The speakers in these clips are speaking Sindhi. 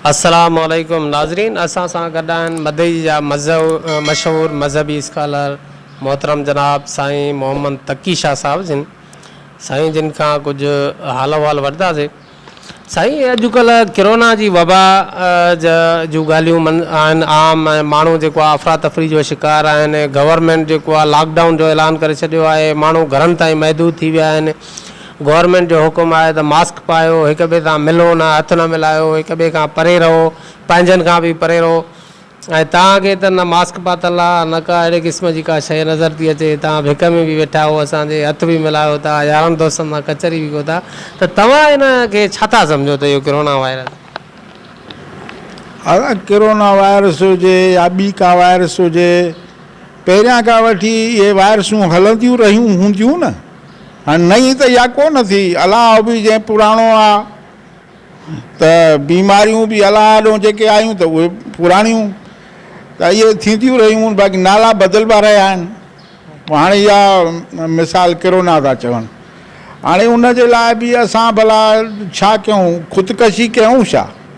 السلام عليڪم ناظرين اسان سان گڏ آهن مدئي جا مشهور مذهبي اسڪالر محترم جناب سائين محمد تقي شاھ صاحب جن سائين جن کان ڪجھ حال احوال وٺداسي سائين اڄ ڪلھ ڪرونا جي وبا جا جو ڳالهيون من آهن عام ۽ ماڻهو جيڪو آهي افرا تفري جو شڪار آهن گورنمينٽ جيڪو آهي لاڪ ڊائون جو اعلان ڪري ڇڏيو آهي ماڻهو گھرن تائين محدود ٿي ويا آهن گورنمينٽ جو حڪم آهي ته ماسڪ پايو، هڪ ٻئي سان ملو نه، هٿ نه ملايو، هڪ ٻئي کان پري رهو، پنهنجن کان به پري رهو ۽ توهان کي ته نه ماسڪ پاتل آ نه ڪا اهڙي قسم جي ڪا شيء نظر ٿي اچي، توهان ڀڪ ۾ به ويٺا آهو، اسان جي هٿ به ملايو ٿا، يارن دوستن سان ڪچهري به ڪيو ٿا ته توهان ان کي ڇا ٿا سمجهو ته اهو ڪرونا وائرس. ڪرونا وائرس هجي يا ٻي ڪا وائرس هجي پهريان کان وٺي اهي وائرسون هلنديون رهيون هونديون نه. هن نئين ته اها ڪو نه ٿي، الاه به جنهن پراڻو آ ته بيماريون به الاه آڏو جيڪي آيون ته اهي پراڻيون ته اهي ٿينديون رهيون باقي نالا بدلبا رهيا آهن. پوء هاڻي اها مثال ڪرونا ٿا چون. هاڻي ان جي لاء به اسان ڀلا ڇا ڪيون خودڪشي ڪيون ڇا؟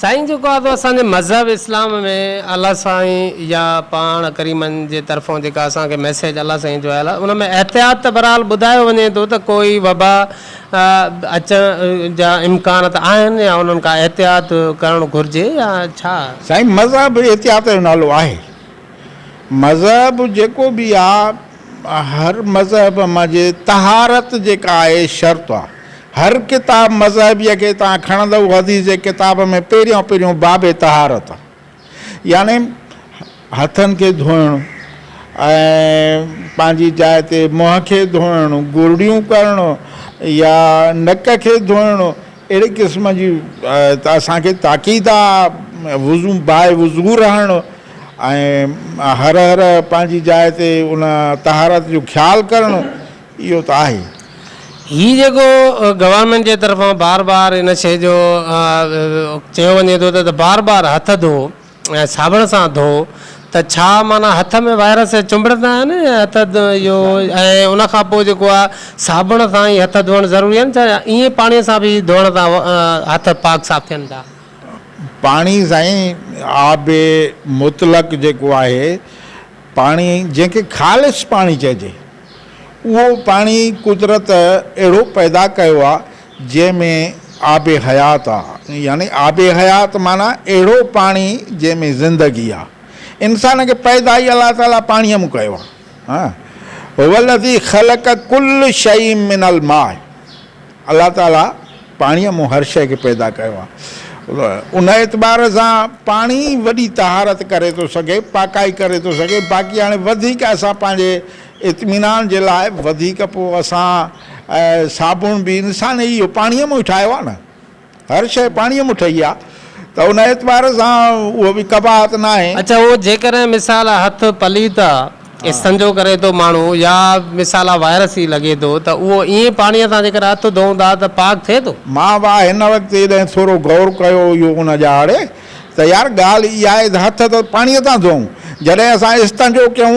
سائين جيڪو آ سو اسان جي مذهب اسلام ۾ الله سائين يا پاڻ ڪريمن جي طرفون جيڪا اسان کي ميسيج الله سائين جو آيل آ ان ۾ احتياط ته بھرحال ٻڌايو وڃي ٿو ته ڪوئي وبا اچڻ جا امڪان ته آھن يا انھن کان احتياط ڪرڻ گھرجي يا ڇا؟ سائين مذهب احتياط جو نالو آھي مذهب جيڪو به آ ھر مذهب مان جي طهارت جيڪا آھي شرط آ. هر ڪتاب مذهبيء کي تان کڻندؤ حديث جي ڪتاب ۾ پهريان پهريون باب طهارت يعني هٿن کي ڌوئڻ ۽ پنهنجي جاء تي منهن کي ڌوئڻ گرڙيون ڪرڻ يا نڪ کي ڌوئڻ اهڙي قسم جي اسان کي تاڪيد آهي وضو باء وضو رهڻ ۽ هر هر پنهنجي جاء تي ان طهارت جو خيال ڪرڻ اهو ته آهي. هي جيڪو گورنمينٽ جي طرفان بار بار ان شيء جو چيو وڃي ٿو ته بار بار هٿ ڌو ۽ صابڻ سان ڌو ته ڇا معنيٰ هٿ ۾ وائرس چنبڙندا آهن ۽ هٿ اهو ۽ ان کان پوء جيڪو آهي صابڻ سان ئي هٿ ڌوئڻ ضروري آهن ڇا ائين پاڻي سان به ڌوئڻ سان هٿ پاڪ صاف ٿين ٿا؟ پاڻي سائين آب مطلق جيڪو آهي پاڻي جنهن کي خالص پاڻي چئجي. اهو پاڻي قدرت اهڙو پيدا ڪيو آ جنهن ۾ آب حيات آ يعني آب حيات معنيٰ اهڙو پاڻي جنهن ۾ زندگي آ انسان کي پيدا ئي الله تعالي پاڻيء مون ڪيو آ هو الذي خلق ڪل شيء من الماء الله تعاليٰ پاڻيء مون هر شيء کي پيدا ڪيو آهي. ان اعتبار سان پاڻي ئي وڏي طهارت ڪري ٿو سگهي، پاڪائي ڪري ٿو سگهي. باقي هاڻي وڌيڪ اسان پنهنجي اطمينان جي لاء وڌيڪ پوء اسان صابڻ به انسان ئي اهو پاڻيء مون ئي ٺاهيو آهي نه. هر شيء پاڻيء مون ٺهي آ ته ان اعتبار سان اهو به قباحت ناهي. اڇا اهو جيڪڏهن مثال آ هٿ پليت آ، استنجو ڪري ٿو ماڻهو يا مثال آ وائرس ئي لڳي ٿو ته اهو ائين پاڻيء سان جيڪڏهن هٿ ڌوئون ٿا ته پاڪ ٿئي ٿو؟ مان به آ هن وقت جڏهن ٿورو غور ڪيو اهو ان جا آڙي ته يار ڳالهه اها آهي ته هٿ ته پاڻيء سان ڌوئون جڏهن اسان استنجو ڪيون،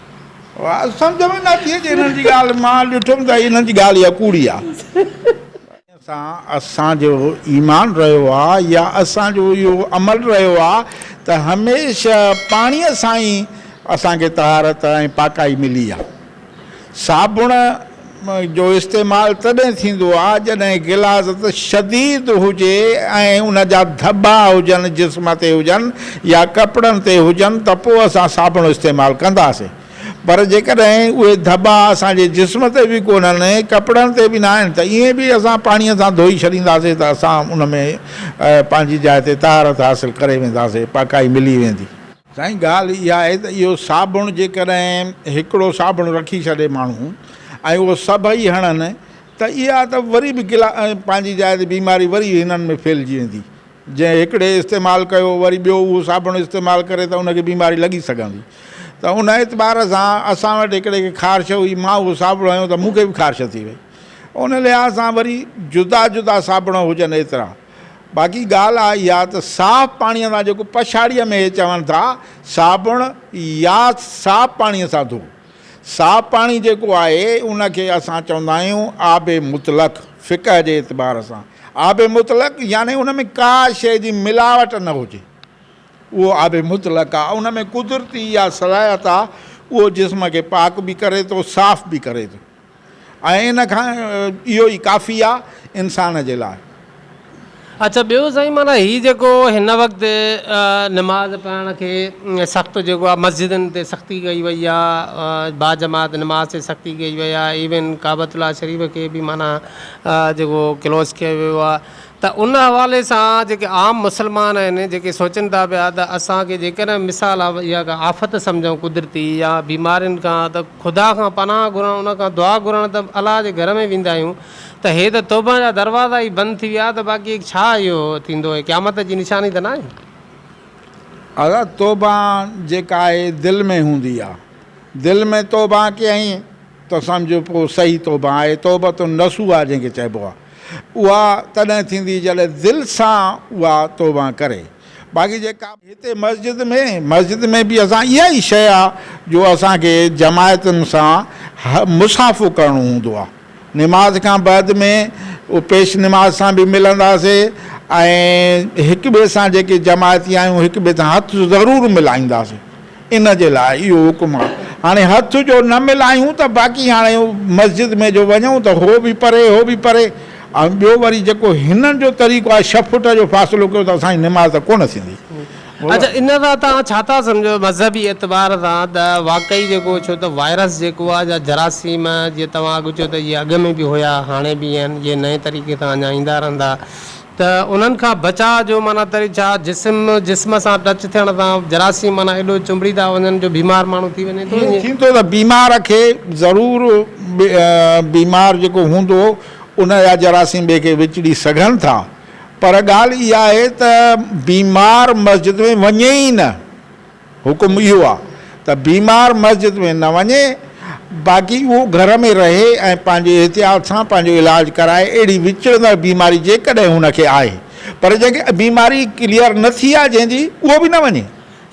سمجهه ۾ نه اچي اچي انهن جي ڳالهه مان ڏٺم ته انهن جي ڳالهه اها ڪوڙي آهي. سان اسان جو ايمان رهيو آ يا اسان جو اهو عمل رهيو آ ته هميشه پاڻيء سان ئي اسان کي طهارت ۽ پاڪائي ملي آ صابڻ جو استعمال تڏهن ٿيندو آهي جڏهن غلاظت شديد هجي ۽ ان جا ڌٻا هجن، جسم تي هجن يا ڪپڙن تي هجن ته پوء اسان صابڻ استعمال ڪنداسين. پر جيڪڏهن اهي ڌٻا اسان جي جسم تي به ڪونهن، ڪپڙن تي به ناهن ته ائين به اسان پاڻيء سان ڌوئي ڇڏينداسين ته اسان ان ۾ پنهنجي جاء تي طهارت حاصل ڪري وينداسين، پاڪائي ملي ويندي. سائين ڳالهه اها آهي ته اهو صابڻ جيڪڏهن هڪڙو صابڻ رکي ڇڏي ماڻهو ۽ اهو سڀئي هڻن ته اها ته وري به گلا پنهنجي جاء تي بيماري وري هنن ۾ ڦهلجي ويندي جنهن هڪڙي استعمال ڪيو وري ٻيو اهو صابڻ استعمال ڪري ته ان کي بيماري لڳي سگهندي ته ان اعتبار سان اسان وٽ هڪڙي کي خارش هئي مان اهو صابڻ هنيو ته مون کي به خارش ٿي وئي ان لحاظ سان وري جدا جدا صابڻ هجن ايترا باقي ڳالهه آ اها ته صاف پاڻيء سان جيڪو پڇاڙيء ۾ اهي چون ٿا صابڻ يا صاف پاڻيء سان ڌو. صاف پاڻي جيڪو آهي ان کي اسان چوندا آهيون آب مطلق فقه جي اعتبار سان آب مطلق يعني ان ۾ ڪا شيء جي ملاوٽ نه هجي اهو آب مطلق آ ان ۾ قدرتي اها صلاحيت آ اهو جسم کي پاڪ به ڪري ٿو صاف به ڪري ٿو. ۽ ان کان اهو ئي ڪافي آ انسان جي لاء. اڇا ٻيو سائين معنيٰ هي جيڪو هن وقت نماز پڙهڻ کي سخت جيڪو آ مسجدن تي سختي ڪئي وئي آ با جماعت نماز تي سختي ڪئي وئي آ ايون ڪعبة الله شريف کي به معنيٰ جيڪو ڪلوز ڪيو ويو آ ته ان حوالي سان جيڪي عام مسلمان آهن جيڪي سوچن ٿا پيا ته اسان کي جيڪڏهن مثال اها ڪا آفت سمجهون قدرتي يا بيمارين کان ته خدا کان پناهه گهرڻ ان کان دعا گهرڻ ته الله جي گهر ۾ ويندا آهيون ته هي ته توبه جا دروازا ئي بند ٿي ويا ته باقي ڇا اهو ٿيندو هي قيامت جي نشاني ته ناهي. اها توبه جيڪا آهي دل ۾ هوندي آهي دل ۾ توبه ڪيائين ته سمجهه پوء صحيح توبه آهي، توبة النصوح جنهن کي چئبو آهي، اها تڏهن ٿيندي جڏهن دل سان اها توبه ڪري. باقي جيڪا. هتي مسجد ۾، مسجد ۾ به اسان اها ئي شيء آهي جو اسان کي جماعتن سان مصافحو ڪرڻو هوندو آهي. نماز کان بعد ۾ پيش نماز سان به ملنداسين ۽ هڪ ٻئي سان جيڪي جماعتي آهيون هڪ ٻئي سان هٿ ضرور ملائينداسين. ان جي لاء اهو حڪم آ. هاڻي هٿ جو نه ملايون ته باقي هاڻي مسجد ۾ جو وڃون ته هو به پري هو به پري ۽ ٻيو وري جيڪو هنن جو طريقو آهي ڇهه فٽ جو فاصلو ڪيو ته اسان جي نماز ته ڪونه ٿيندي. اڇا ان سان توهان ڇا ٿا سمجهو مذهبي اعتبار سان ته واقعي جيڪو ڇو ته وائرس جيڪو آ جا جراثيم جي توهان اڳ چيو ته اهي اڳ ۾ به هيا هاڻي به آهن اهي نئين طريقي سان اڃا ايندا رهندا ته انهن کان بچاء جو معنيٰ تري ڇا؟ جسم جسم سان ٽچ ٿيڻ سان جراثيم معنيٰ ايڏو چنبڙي ٿا وڃن جو بيمار ماڻهو ٿي وڃي ٿو ائين؟ ٿيندو ته بيمار کي ضرور بيمار جيڪو هوندو ان جا جراثيم ٻئي کي وچڙي سگهن ٿا پر ڳالهه اها آهي ته بيمار مسجد ۾ وڃي ئي نه. حڪم اهو آ ته بيمار مسجد ۾ نه وڃي باقي اهو گهر ۾ رهي ۽ پنهنجي احتياط سان پنهنجو علاج ڪرائي اهڙي وچڙندڙ بيماري جيڪڏهن هن کي آهي پر جنهن کي بيماري ڪليئر نه ٿي آ جنهن جي اهو به نه وڃي.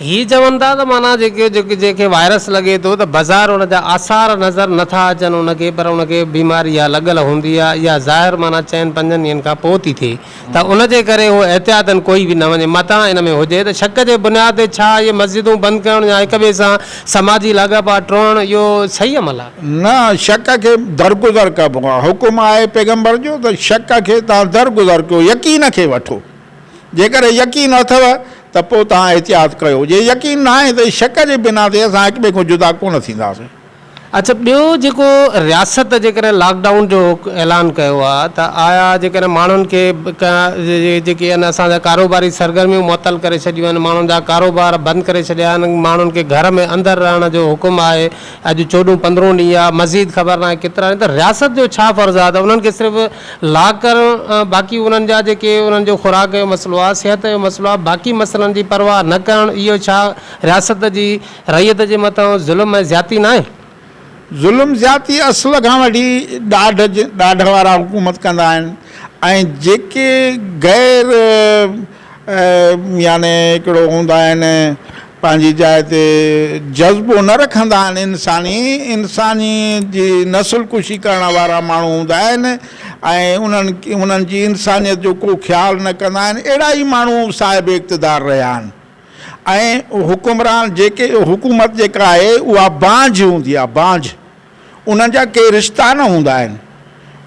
هي چون ٿا ته معنيٰ جيڪي جنهن کي وائرس لڳي ٿو ته بظاهر ان جا آثار نظر نه ٿا اچن ان کي پر ان کي بيماري اها لڳل هوندي آ اها ظاهر معنيٰ چئن پنجن ڏينهن کان پوء ٿي ٿئي ته ان جي ڪري اهو احتياطن ڪوئي به نه وڃي. متان ان ۾ هجي ته شڪ جي بنياد تي ڇا اهي مسجدون بند ڪرڻ يا هڪ ٻئي سان سماجي لاڳاپا ٽوڙڻ اهو صحيح عمل آهي؟ نه، شڪ کي درگذر ڪبو آهي. حڪم آهي پيغمبر جو ته شڪ کي توهان درگذر ڪيو، يقين کي وٺو. جيڪڏهن يقين اٿو ته پوء توهان احتياط ڪيو. جي يقين ناهي ته شڪ جي بنا تي اسان هڪ ٻئي کان جدا ڪونه ٿينداسين. اڇا ٻيو جيڪو رياست جيڪڏهن لاڪ ڊائون جو اعلان ڪيو آ ته آيا جيڪڏهن ماڻهن کي جيڪي آهن اسان جا ڪاروباري سرگرميون معطل ڪري ڇڏيون آهن ماڻهن جا ڪاروبار بند ڪري ڇڏيا آهن ماڻهن کي گهر ۾ اندر رهڻ جو حڪم آهي اڄ چوڏهون پندرهون ڏينهن آ مزيد خبر ناهي ڪيترا ڏينهن ته رياست جو ڇا فرض آ ته انهن کي صرف لاڪ ڪرڻ باقي انهن جا جيڪي انهن جو خوراڪ جو مسئلو آ صحت جو مسئلو آ باقي مسئلن جي پرواهه نه ڪرڻ اهو ڇا رياست جي رعيت جي مٿان ظلم ۽ زيادتي ناهي؟ ظلم زيادتي اصل کان وٺي ڏاڍ ڏاڍ وارا حڪومت ڪندا آهن ۽ جيڪي غير يعني هڪڙو هوندا آهن پنهنجي جاء تي جذبو نه رکندا آهن انساني انساني جي نسل ڪشي ڪرڻ وارا ماڻهو هوندا آهن ۽ انهن انهن جي انسانيت جو ڪو خيال نه ڪندا آهن اهڙا ئي ماڻهو صاحب اقتدار رهيا آهن ۽ حڪمران جيڪي حڪومت جيڪا آهي اها بانجھ هوندي آهي بانجھ انهن جا ڪي رشتا نه هوندا آهن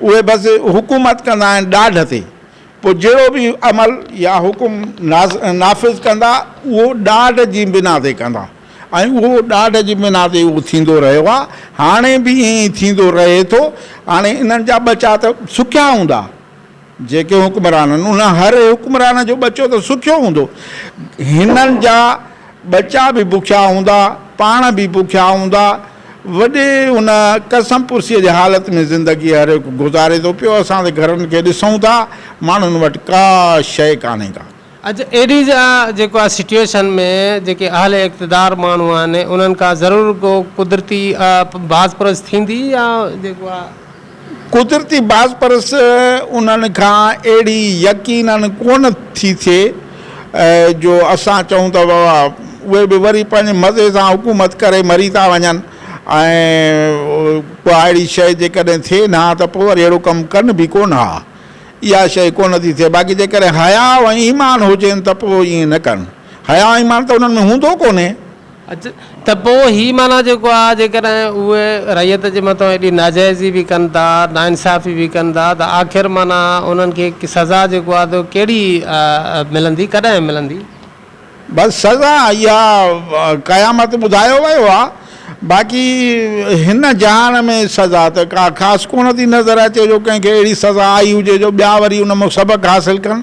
اهي بس حڪومت ڪندا آهن ڏاڍ تي پوء جهڙو به عمل يا حڪم نافذ ڪندا اهو ڏاڍ جي بنا تي ڪندا ۽ اهو ڏاڍ جي بنا تي اهو ٿيندو رهيو آهي هاڻي به ائين ئي ٿيندو رهي ٿو هاڻي انهن جا ٻچا ته سکيا هوندا جيڪي حڪمرانن ان هر حڪمران جو ٻچو ته سکيو هوندو، هنن جا ٻچا به بکيا هوندا، پاڻ به بکيا هوندا، وڏي ان ڪسم پرسيء جي حالت ۾ زندگي هر هڪ گذاري ٿو پيو، اسان ته گهرن کي ڏسون ٿا، ماڻهن وٽ ڪا شيء ڪانهي ڪا. اڄ ايڊيز جا جيڪو آ سٽيوشن ۾ جيڪي اهل اقتدار ماڻهو آهن انهن ڪا ضرور ڪو قدرتي باز پرس ٿيندي يا جيڪو آ قدرتي باز پرس انهن کان اهڙي يقيناً ڪونه ٿي ٿئي جو اسان چئون ته بابا اهي به وري پنهنجي مزي سان حڪومت ڪري مري ٿا وڃن ۽ ڪا اهڙي شيء جيڪڏهن ٿئي نه ها ته پوء وري اهڙو ڪم ڪن به ڪونه ها. اها شيء ڪونه ٿي ٿئي، باقي جيڪڏهن حياء ۽ ايمان هجين ته پوء ائين نه ڪن. حياء ۽ ايمان ته انهن ۾ هوندو ڪونهي. اچ، ته پوء هي معنيٰ جيڪو آهي، جيڪڏهن اهي رعيت جي مٿان ايڏي ناجائزي به ڪن ٿا، ناانصافي به ڪن ٿا، ته آخر معنيٰ انهن کي سزا جيڪو آهي ته ڪهڙي ملندي، ڪڏهن ملندي؟ بس سزا اها قيامت ٻڌايو ويو آهي باقي هن جهان ۾ سزا ته ڪا خاص ڪونه ٿي نظر اچي جو ڪنهن کي اهڙي سزا آئي هجي جو ٻيا وري ان مان سبق حاصل ڪن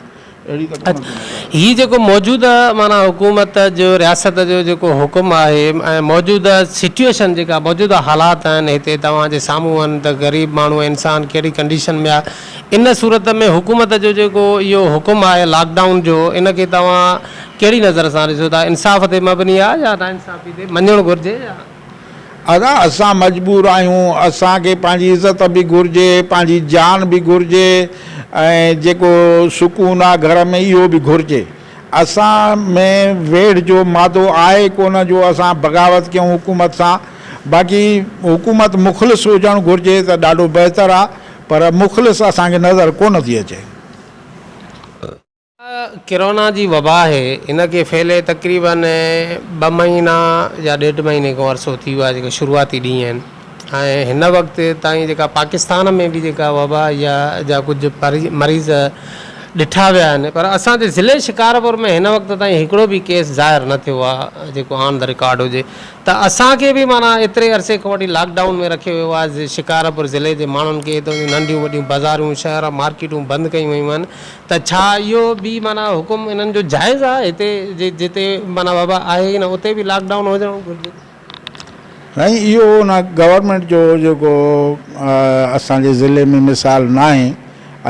اهڙي ته ڪونه ٿي نظر اچي. هي جيڪو موجوده معنيٰ حڪومت جو رياست جو جيڪو حڪم آهي ۽ موجوده سچوئيشن جيڪا موجوده حالات آهن هتي توهان جي سامهون آهن ته غريب ماڻهو انسان ڪهڙي ڪنڊيشن ۾ آهي ان صورت ۾ حڪومت جو جيڪو اهو حڪم آهي لاڪ ڊائون جو ان کي توهان ڪهڙي نظر سان ڏسو ٿا انصاف تي مبني آهي يا ناانصافي تي مڃڻ گهرجي يا. ادا اسان مجبور آهيون اسان کي پنهنجي عزت به گهرجي پنهنجي جان به گهرجي ۽ جيڪو سڪون آهي گهر ۾ اهو به گهرجي اسان ۾ ويڙهه جو مادو آهي ڪونه جو اسان بغاوت ڪيون حڪومت سان باقي حڪومت مخلص هجڻ گهرجي ته ڏاڍو بهتر آهي پر مخلص اسان کي نظر ڪونه ٿي اچي. اها ڪرونا جي وبا آهي، ان کي ڦهلي تقريباً ٻه مهينا يا ڏيڍ مهيني کان عرصو ٿي ويو آهي جيڪا شروعاتي ڏينهن آهن ۽ هن وقت تائين جيڪا پاڪستان ۾ به جيڪا وبا يا جا ڪجهه مريض ڏٺا ويا آهن پر اسان جي ضلعي شڪارپور ۾ هن وقت تائين هڪڙو به ڪيس ظاهر نه ٿيو آهي جيڪو آن دي رڪارڊ هجي. ته اسان کي به معنيٰ ايتري عرصي کان وٺي لاڪ ڊائون ۾ رکيو ويو آهي ۽ شڪارپور ضلعي جي ماڻهن کي هتان جون ننڍيون وڏيون بازارون، شهر، مارڪيٽون بند ڪيون ويون آهن ته ڇا اهو به معنيٰ حڪم انهن جو جائز آهي؟ هتي جي جتي معنيٰ وبا آهي ئي نه اتي به لاڪ ڊائون هجڻ گهرجي. سائين اهو ان گورنمينٽ جو جيڪو اسان جي ضلعي ۾ مثال ناهي.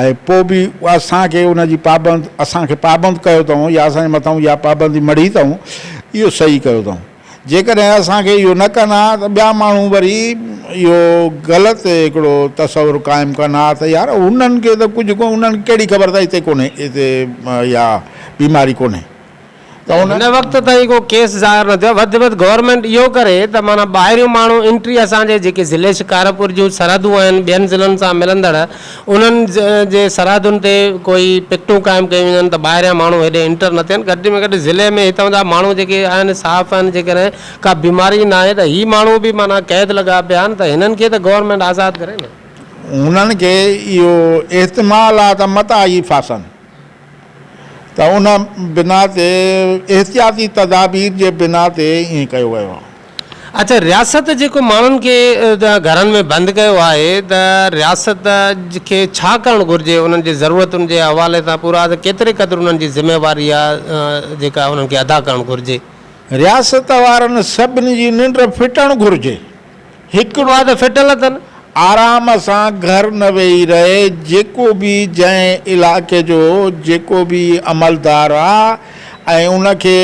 ۽ پوء به اسان کي ان جي پابند اسان کي پابند ڪيو اٿئون يا اسان جي مٿئون اها پابندي مڙهي اٿئون اهو صحيح ڪيو اٿئون جيڪڏهن اسان کي اهو نه ڪن ها ته ٻيا ماڻهو وري اهو غلط هڪڙو تصور قائم ڪن ها ته يار انهن کي ته ڪجهه ڪو انهن کي ڪهڙي خبر ته هتي ڪونهي هتي اها بيماري ڪونهي ته ان هن وقت تائين ڪو ڪيس ظاهر نه ٿيو آهي وڌ وڌ گورنمينٽ اهو ڪري ته معنيٰ ٻاهريون ماڻهو انٽري اسان جي جيڪي ضلعي شڪارپور جون سرحدون آهن ٻين ضلعن سان ملندڙ انهن جي سرحدن تي ڪوئي پڪٽون قائم ڪيون وڃن ته ٻاهريان ماڻهو هيڏي انٽر نه ٿين گهٽ ۾ گهٽ ضلعي ۾ هتان جا ماڻهو جيڪي آهن صاف آهن جيڪڏهن ڪا بيماري نه آهي ته هي ماڻهو به معنيٰ قيد لڳا پيا آهن ته هنن کي ته گورنمينٽ آزاد ڪري نه. هنن کي اهو احتمال آهي ته متان هي ڦاسن. ته ان بنا تي احتياطي تدابير جي بنا تي ائين ڪيو ويو آهي. اچا رياست جيڪو ماڻهن کي گهرن ۾ بند ڪيو آهي ته رياست کي ڇا ڪرڻ گهرجي انهن جي ضرورتن جي حوالي سان پورا ته ڪيتري قدر انهن جي ذميواري آهي جيڪا انهن کي ادا ڪرڻ گهرجي. رياست وارن سڀني جي ننڊ ڦٽڻ گهرجي. هڪ ڏوهه ته ڦٽل اٿن. آرام سان گهر نه ويهي رهي، جيڪو به جنهن علائقي جو جيڪو به عملدار آ ۽ ان کي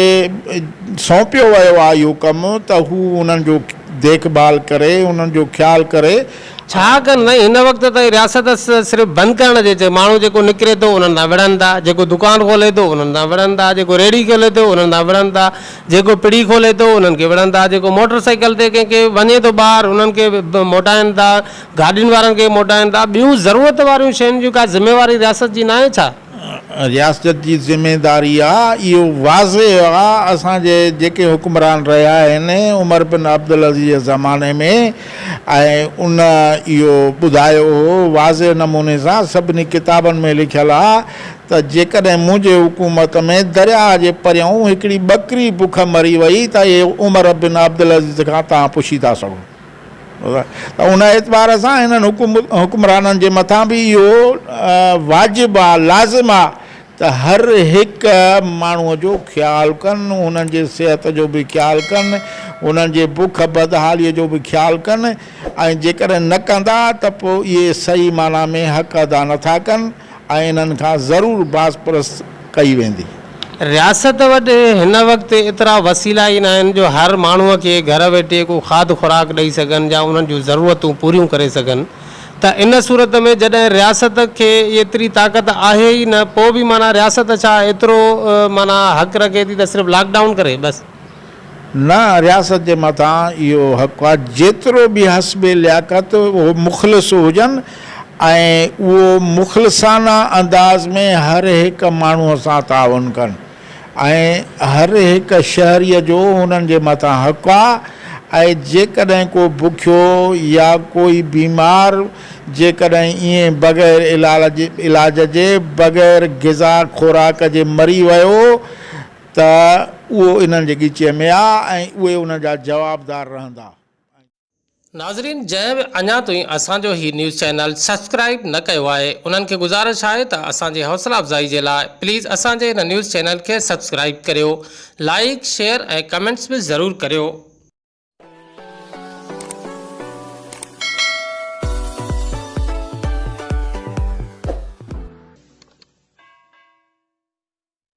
سونپيو ويو آ اهو ڪم ته هو انهن جو ديک ڀال ڪري، انهن جو خيال ڪري ۽. ڇا ڪن سائين هن وقت تائين رياست صرف بند ڪرڻ جي چئي ماڻهو جيڪو نڪري ٿو انهن سان وڙهن ٿا جيڪو دڪان کولي ٿو انهن سان وڙهن ٿا جيڪو ريڙهي کولي ٿو انهن سان وڙهن ٿا جيڪو پڙي کولي ٿو انهن کي وڙهن ٿا، جيڪو موٽر سائيڪل تي ڪنهن کي وڃي ٿو ٻاهر انهن کي موٽائن ٿا، گاڏين وارن کي موٽائن ٿا، ٻيون ضرورت واريون شين جون ڪا ذميواري رياست جي ناهي ڇا؟ رياست جي ذميداري آ، اهو واضح آ، اسان جي جيڪي حڪمران رهيا آهن عمر بن عبدالعزيز جي زماني ۾ ۽ ان اهو ٻڌايو هو واضح نموني سان سڀني ڪتابن ۾ لکيل آ ته جيڪڏهن منهنجي حڪومت ۾ درياهه جي پرينهون هڪڙي ٻڪري بک مري وئي ته اهي عمر بن عبدالعزيز کان توهان پڇي ٿا سگهو ته ان اعتبار سان هنن حڪمرانن جي مٿان به اهو واجب آ، لازم آ ته هر هڪ ماڻهوء جو خيال ڪن، هنن جي صحت جو به خيال ڪن، هنن جي بک بدحاليء جو به خيال ڪن ۽ جيڪڏهن نه ڪندا ته پوء اهي صحيح معنيٰ ۾ حق ادا نٿا ڪن ۽ انهن کان ضرور باز پرست ڪئي ويندي. رياست وٽ هن وقت ايترا وسيلا ئي ناهن جو هر ماڻهو کي گهر ويٺي ڪو کاڌ خوراڪ ڏئي سگهن يا انهن جون ضرورتون پوريون ڪري سگهن ته ان صورت ۾ جڏهن رياست کي ايتري طاقت آهي ئي نه پوء به معنيٰ رياست ڇا ايترو معنيٰ حق رکي ٿي ته صرف لاڪ ڊائون ڪري بس. نه رياست جي مٿان اهو حق آ جيترو به حسب لياقت اهو مخلص هجن ۽ اهو مخلصانه انداز ۾ هر هڪ ماڻهو سان تعاون ڪن ۽ هر هڪ شهري جو هنن جي مٿان حق آ ۽ جيڪڏهن ڪو بکيو يا ڪوئي بيمار جيڪڏهن ائين بغير علاج جي بغير غذا خوراڪ جي مري ويو ته اهو انهن جي ڳچيء ۾ آ ۽ اهي ان جا جوابدار رهندا. ناظرين جنهن به اڃا تائين اسان جو هي نيوز چينل سبسڪرائيب نه ڪيو آهي انهن کي گذارش آهي ته اسان جي حوصلا افزائي جي لاء پليز اسان جي هن نيوز چينل کي سبسڪرائيب ڪريو لائيڪ شيئر ۽ ڪمينٽس به ضرور ڪريو.